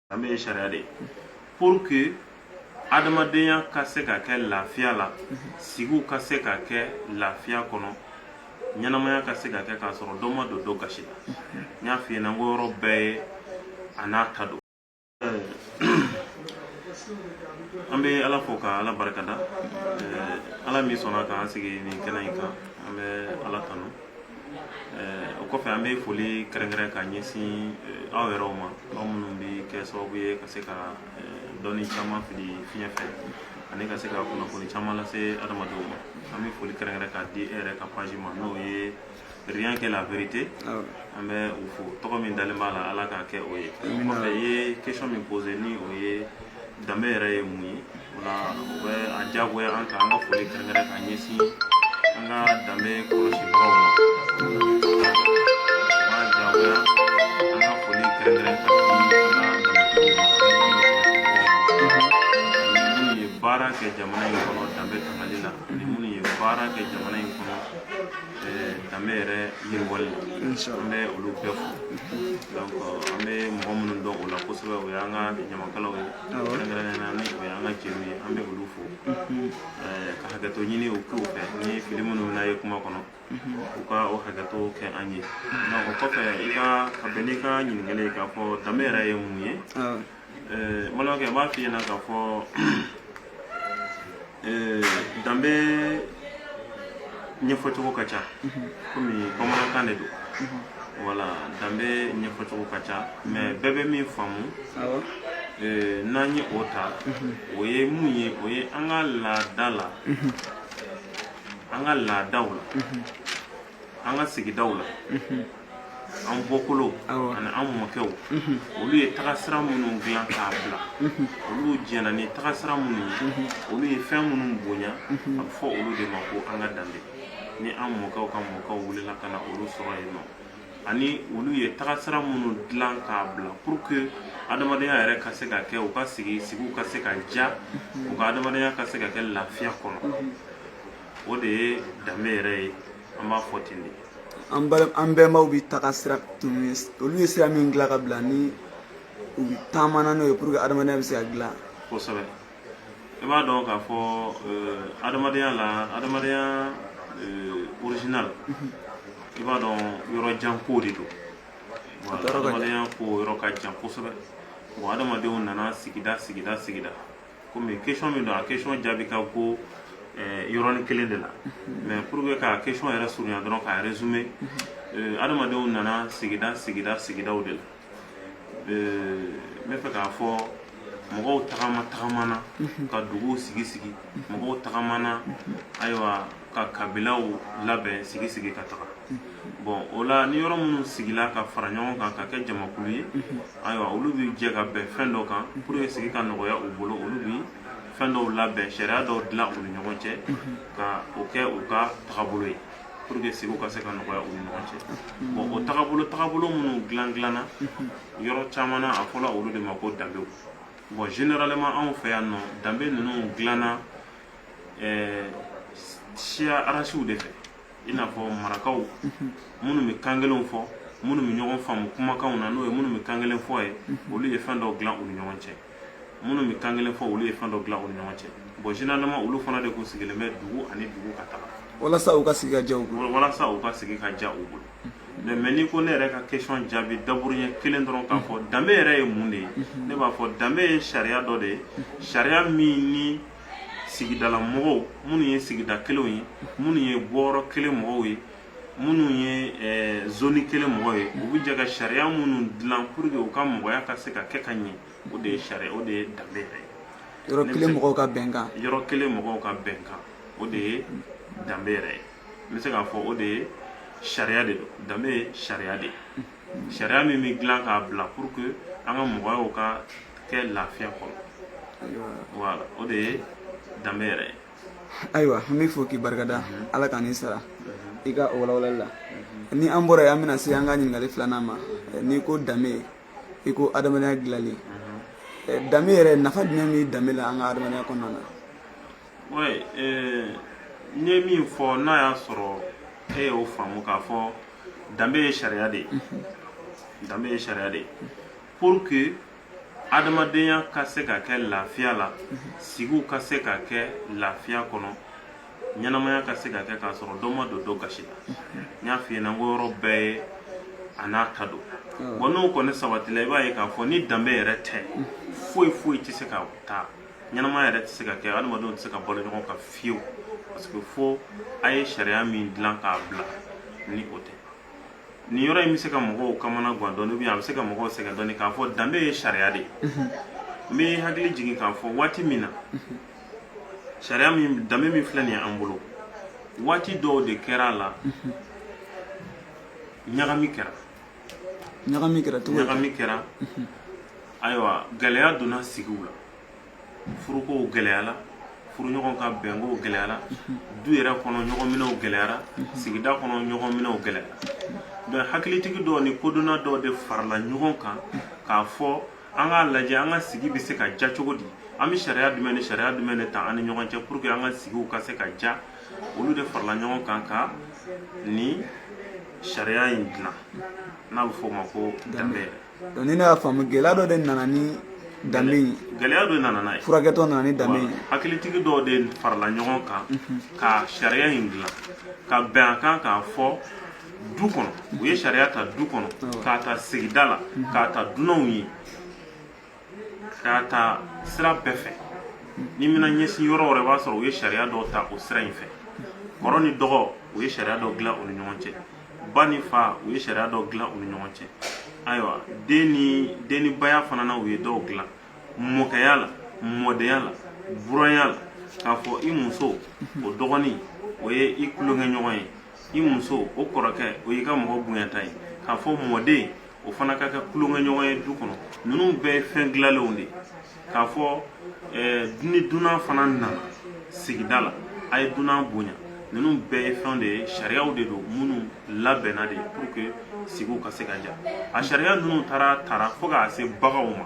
danbe ye sariya de ye pour que adamadenya ka se ka kɛ lafiya la sigiw ka se ka kɛ lafiya kɔnɔ ɲɛnamaya ka se ka kɛ k'a sɔrɔ dɔ ma don dɔ gasi la n y'a f'i ɲɛna n ko yɔrɔ bɛɛ ye a n'a ta don an bɛ ala fo ka ala barikada ala min sɔnna k'an sigi nin kɛnɛ in kan an bɛ ala tanu o kɔfɛ an bɛ foli kɛrɛnkɛrɛn ka ɲɛsin aw yɛrɛw ma aw minnu bɛ kɛ sababu ye ka se ka dɔnni caman fili fiɲɛ fɛ ani ka se ka kunnafoni caman lase adamadenw ma an bɛ foli kɛrɛnkɛrɛn ka di e yɛrɛ ka page ma n'o ye rien que la vérité an bɛ o fo tɔgɔ min dalen b'a la ala k'a kɛ o ye o kɔfɛ i ye question min posé ni o ye danbe yɛrɛ ye mun ye o la o bɛ a diyagoya an kan an ka foli kɛrɛnkɛrɛn ka ɲɛsin an ka danbe kɔlɔsibagaw ma o b'a diyagoya an ka foli kɛrɛnkɛrɛn ka di an ka danbetigiw ma ani minnu ye baara kɛ jamana in kɔnɔ danbe tangali la ani minnu ye baara kɛ jamana in kɔnɔ danbe yɛrɛ yiriwali la an bɛ olu bɛɛ fo donc an bɛ mɔgɔ minnu dɔn o la kosɛbɛ o y'an ka ɲamakalaw ye kɛrɛnkɛrɛnnenya na ni o y'an ka jeliw ye an bɛ olu fo ka hakɛto ɲini u k'u fɛ ni fili minnu na ye kuma kɔnɔ u ka o hakɛto kɛ an ye o kɔfɛ i ka ka bɛn n'i ka ɲininkali ye k'a fɔ danbe yɛrɛ ye mun ye Ɛɛ n balimakɛ n b'a f'i ɲɛna k'a fɔ ɛɛ danbe ɲɛfɔcogo ka ca komi bamanankan de don voilà danbe ɲɛfɔcogo ka ca mais bɛɛ bɛ min faamu ɛɛ n'an ye o ta o ye mun ye o ye an ka laada la an ka laadaw la an ka sigidaw la an bɔkolow ani an mɔkɛw olu ye tagasira minnu dilan k'a bila olu jɛna ni tagasira minnu ye olu ye fɛn minnu bonya a bɛ fɔ olu de ma ko an ka danbe ni an mɔkɛw ka mɔkɛw wulila ka na olu sɔrɔ yen nɔ ani olu ye tagasira minnu dilan k'a bila pour que adamadenya yɛrɛ ka se ka kɛ u ka sigi sigiw ka se ka diya u ka adamadenya ka se ka kɛ lafiya kɔnɔ o de ye danbe yɛrɛ ye an b'a fɔ ten de an bala an bɛnbaw bɛ tagasira tun olu ye sira min dilan k'a bila ni u taamana n'o ye pour que adamadenya bɛ se ka dilan kosɛbɛ i b'a dɔn k'a fɔ euh, adamadenya la adamadenya euh, original i b'a dɔn yɔrɔ jan ko de don Voilà, Yɔrɔ ka jan. adamadenya ko yɔrɔ ka jan kosɛbɛ bon adamadenw nana sigida sigida sigida komi question min don a question jaabi ka go eh, yɔrɔnin kelen de la mais pour que ka question yɛrɛ surunya dɔrɔn k'a résumer eh, adamadenw nana sigida sigida sigidaw de la eh, n bɛ fɛ k'a fɔ mɔgɔw tagama tagamana ka duguw sigi sigi mɔgɔw tagamana ayiwa ka kabilaw labɛn sigi sigi ka taga bɔn o la ni yɔrɔ minnu sigila ka fara ɲɔgɔn kan ka kɛ jamakulu ye ayiwa olu bɛ jɛ ka bɛn fɛn dɔ kan pour que sigi ka nɔgɔya u bolo olu bi fɛn dɔw labɛn sariya dɔw dilan u ni ɲɔgɔn cɛ ka o kɛ u ka tagabolo ye pour que sigiw ka se ka nɔgɔya u ni ɲɔgɔn cɛ bɔn o tagabolo tagabolo minnu dilan dilanna yɔrɔ caman na a fɔla olu de ma ko danbew bɔn généralement anw fɛ yan nɔ danbe ninnu dilanna ɛɛ siya arasiw de fɛ i n'a fɔ marakaw minnu bɛ kan kelenw fɔ minnu bɛ ɲɔgɔn faamu kumakanw na n'o ye minnu bɛ kan kelen fɔ ye olu ye fɛn dɔw dilan u ni ɲɔgɔn cɛ minnu bɛ kan kelen fɔ olu ye fɛn dɔw dilan u ni ɲɔgɔn cɛ bɔn généralement olu fana de kun sigilen bɛ dugu ani dugu ka taga walasa u ka sigi ka ja u bolo walasa u ka sigi ka ja u bolo mais mais n'i ko ne yɛrɛ ka question jaabi daburuɲɛ kelen dɔrɔn k'a fɔ danbe yɛrɛ ye mun de ye ne b'a fɔ danbe ye sariya dɔ de ye sariya min ni sigidala mɔgɔw minnu ye sigida kelenw ye minnu ye bɔyɔrɔ kelen mɔgɔw ye minnu ye eh, zoni kelen mɔgɔw ye u bɛ jɛ ka sariya minnu dilan pour que u ka mɔgɔya ka se ka kɛ ka ɲɛ o de ye sariya o de ye danbe yɛrɛ ye yɔrɔ kelen mɔgɔw ka bɛnkan yɔrɔ kelen mɔgɔw ka bɛnkan o de ye danbe yɛrɛ ye n bɛ se k'a fɔ o de ye sariya de don danbe ye sariya de ye sariya min bɛ dilan k'a bila pour que an ka mɔgɔyaw ka kɛ lafiya kɔnɔ voilà o de ye danbe yɛrɛ ye ayiwa an b'i fo k'i barikada mhm. ala ka n'i sara mhm. i ka o walawalali la mhm. ni an bɔra yen an bɛna se an ka ɲininkali filanan ma eh, n'i ko danbe i ko adamadenya dilali eh, danbe yɛrɛ nafa jumɛn bɛ danbe la an ka adamadenya kɔnɔna na Oui, euh, n ye min fɔ n'a y'a sɔrɔ e y'o faamu k'a fɔ danbe ye sariya de ye danbe ye sariya de ye pour que adamadenya ka se ka kɛ lafiya la sigiw ka se ka kɛ lafiya kɔnɔ ɲɛnamaya ka se ka kɛ k'a sɔrɔ dɔ ma don dɔ gasi la n y'a f'i ɲɛna n ko yɔrɔ bɛɛ ye a n'a ta don bɔn n'o kɔni sabatila i b'a ye k'a fɔ ni danbe yɛrɛ tɛ foyi foyi tɛ se ka taa ɲɛnamaya yɛrɛ tɛ se ka kɛ adamadenw tɛ se ka balo ɲɔgɔn kan fiyewu parce que fo a ye sariya min dilan k'a bila ni o tɛ nin yɔrɔ in bɛ se ka mɔgɔw kamana gan dɔɔni ou bien a bɛ se ka mɔgɔw sɛgɛn dɔɔni k'a fɔ danbe ye sariya de ye n bɛ hakili jigin k'a fɔ waati min na sariya min danbe min filɛ nin ye an bolo waati dɔw de kɛra a la ɲagami kɛra ɲagami kɛra cogo ɲagami kɛra ayiwa gɛlɛya donna sigiw la furukow gɛlɛyala furuɲɔgɔn ka bɛnkow gɛlɛyara du yɛrɛ kɔnɔ ɲɔgɔnminɛw gɛlɛyara sigida kɔnɔ ɲɔgɔnminɛw gɛlɛyara donc hakilitigi dɔw ni kodɔnna dɔw de farala ɲɔgɔn kan k'a fɔ an k'a lajɛ an ka sigi bɛ se ka ja cogo di an bɛ sariya jumɛn ni sariya jumɛn de ta an ni ɲɔgɔn cɛ pour que an ka sigiw ka se ka ja olu de farala ɲɔgɔn kan ka nin sariya in dilan n'a bɛ f'o ma ko danbe yɛrɛ donc ni ne y'a faamu gɛlɛya dɔ de nana ni danbe in gɛlɛya dɔ nana n'a ye furakɛtɔ nana ni danbe in ye hakilitigi dɔw de farala ɲɔgɔn kan ka sariya in dilan ka bɛn a kan k'a fɔ du kɔnɔ u ye sariya ta du kɔnɔ k'a ta sigida la k'a ta dunanw ye k'a ta sira bɛɛ fɛ n'i mana ɲɛsin yɔrɔ wɛrɛ b'a sɔrɔ u ye sariya dɔw ta o sira in fɛ kɔrɔ ni dɔgɔ u ye sariya dɔ dilan u ni ɲɔgɔn cɛ ba ni fa u ye sariya dɔ dilan u ni ɲɔgɔn cɛ ayiwa den ni baya fana na u ye dɔw dilan mɔkɛya la mɔdenya la buranya la k'a fɔ i muso o dɔgɔnin o ye i tulonkɛɲɔgɔn ye i muso o kɔrɔkɛ o y'i ka mɔgɔ bonyata ye k'a fɔ mɔden o fana ka kɛ tulonkɛɲɔgɔn ye du kɔnɔ ninnu bɛɛ ye fɛn dilalenw de ye k'a fɔ eh, ni dunan fana nana sigida la a ye dunan bonya ninnu bɛɛ ye fɛn de ye sariyaw de don minnu labɛnna de pour que sigiw ka se ka ja a sariya ninnu taara taara fo k'a se baganw ma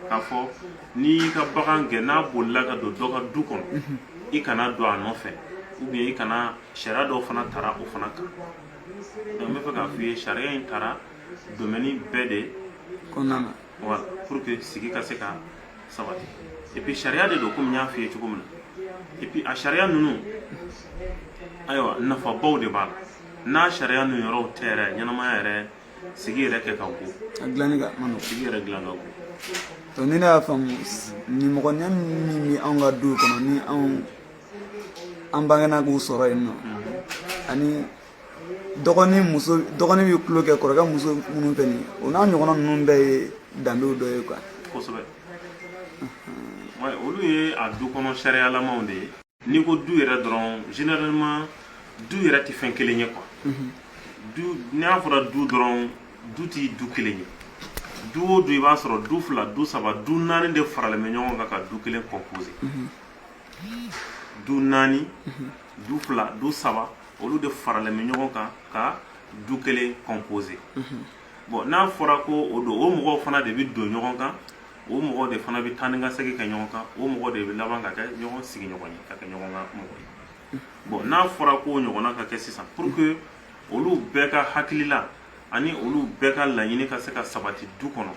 k'a fɔ n'i y'i ka bagan gɛn n'a bolila ka don dɔ ka du kɔnɔ i kana don a nɔfɛ ou bien i kana sariya dɔw fana tara o fana kan donc n bɛ fɛ k'a f'i ye sariya in tara domaine bɛɛ de kɔnɔna na voilà pour que sigi ka se ka sabati et puis sariya de don komi n y'a f'i ye cogo min na et puis a sariya ninnu ayiwa nafabaw de b'a la n'a sariya ninnu yɔrɔw tɛ yɛrɛ ɲɛnamaya yɛrɛ sigi yɛrɛ kɛ ka go a dilanni ka man nɔgɔ sigi yɛrɛ dilan ka go donc ni ne y'a faamu nimɔgɔniya min bɛ anw ka duw kɔnɔ ni anw an bangena k'u sɔrɔ yen nɔ ani dɔgɔnin muso dɔgɔnin bɛ tulon kɛ kɔrɔkɛ muso minnu fɛ nin o n'a ɲɔgɔnna ninnu bɛɛ ye danbew dɔ ye quoi kosɛbɛ olu ye a du kɔnɔ sariyalamaw de ye n'i ko du yɛrɛ dɔrɔn généralement du yɛrɛ tɛ fɛn kelen ye quoi mhm. n'a fɔra du dɔrɔn du tɛ du kelen ye du o du i b'a sɔrɔ du fila du saba du naani de faralen bɛ ɲɔgɔn kan ka du kelen composer mhm. du naani mhm. du fila du saba olu de faralen bɛ ɲɔgɔn kan ka du kelen composer bon n'a fɔra ko o don o mɔgɔw fana de bɛ don ɲɔgɔn kan o mɔgɔw de fana bɛ taa ni ka segin kɛ ɲɔgɔn kan o mɔgɔw de bɛ laban ka kɛ ɲɔgɔn sigiɲɔgɔn ye ka kɛ ɲɔgɔn ka mɔgɔ ye bon n'a fɔra ko ɲɔgɔnna ka kɛ sisan pour que olu bɛɛ ka hakilila ani olu bɛɛ ka laɲini ka se ka sabati du kɔnɔ